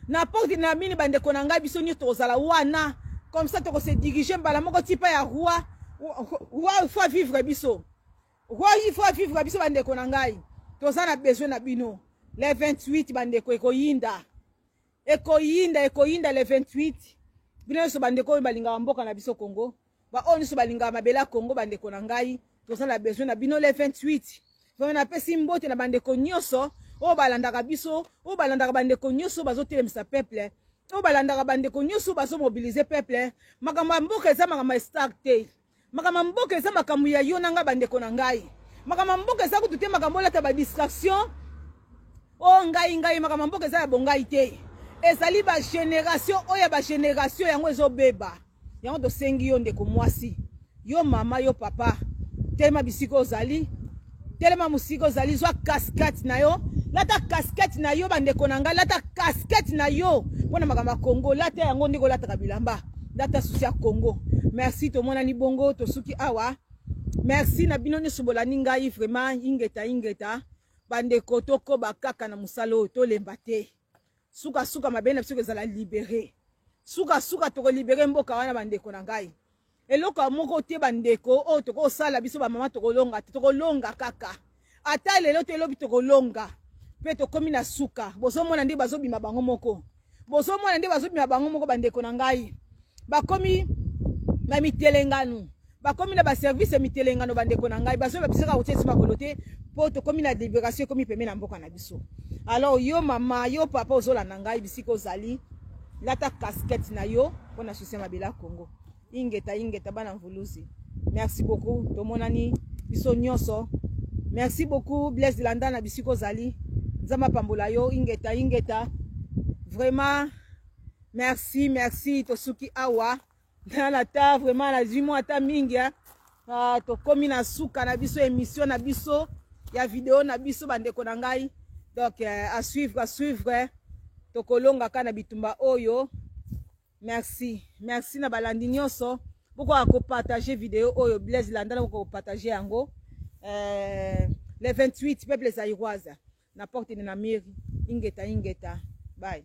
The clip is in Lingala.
na porte na mini bandeko na ngai biso nyonso tokozala wana comme ça tokose dirige mbala moko tipa ya roi roi faut vivre biso roi il faut vivre biso bandeko na ngai toza na besoin na bino le 28 bandeko ekoyinda ekoyinda ekoyinda le 28 bino nyonso bandeko oyo balingaka mboka na biso congo ba oyo nyonso balingaka mabele ya congo bandeko na ngai toza na besoin na bino le 28 vraimen napesi mbote na bandeko nyonso oyo balandaka biso oyo balandaka bandeko nyonso bazotelemisa peuple oyo balandaka bandeko nyonso bazomobilize peuple makambo ya mboka eza makambo ya star te makambo ya mboka eza makambo ya yo na ngai bandeko na ngai makambo ya mboka eza kutu te makambo olata badistraction O ngai ngai makambo ya mboka eza ya bongai te ezali ba generation oyo ya ba generation yango ezobeba yango tosengi yo ndeko mwasi yo mama yo papa telema bisika ozali telema mosika ozali zwa casquette na yo lata casquette na yo bandeko na ngai lata casquette na yo mpo na makambo ya congo lata yango ndenge olataka bilamba lata susi ya congo merci tomonani bongo tosuki awa merci na bino nyonso bolandi ngai vraiment ingeta ingeta bandeko tokoba kaka na mosala oyo tolemba te sukasuka mabe na biso kozala libere sukasuka tokolibere mboka wana bandeko na ngai eloko ya moko te bandeko oyo tokosala biso bamama tokolonga te tokolonga kaka ata lelo te elobi tokolonga mpe tokomi na suka bozomona nde bazobima bango moko bozomona nde bazobima bango moko bandeko na ngai bakomi na mitelengano bakomi na baservice ya mitelengano bandeko na ngai bazoyeba biso kaka kotia biso makolo te mpo tokomi na liberation ekomi pembe na mboka na biso alors yo mama yo papa ozolanda ngai bisika ozali lata casquette na yo mpo na soutien mabela congo ingeta ingeta bana mvuluzi merci beaucoup tomonani biso nyonso merci beaucoup blaise landa na bisika ozali nzambe apambola yo ingeta ingeta vraiment merci merci tosuki awa nana ata vraiment nazwi mwa ata mingi hein? ah, tokomi na suka na biso émission na biso ya video na biso bandeko na ngai donc euh, à suivre à suivre tokolongaka na bitumba oyo merci merci na balandi nyonso bokoka kopartage video oyo blaise landa na bokoka kopartage yango euh, le 28 peuple zairoise na porte de na miri ingeta ingeta bye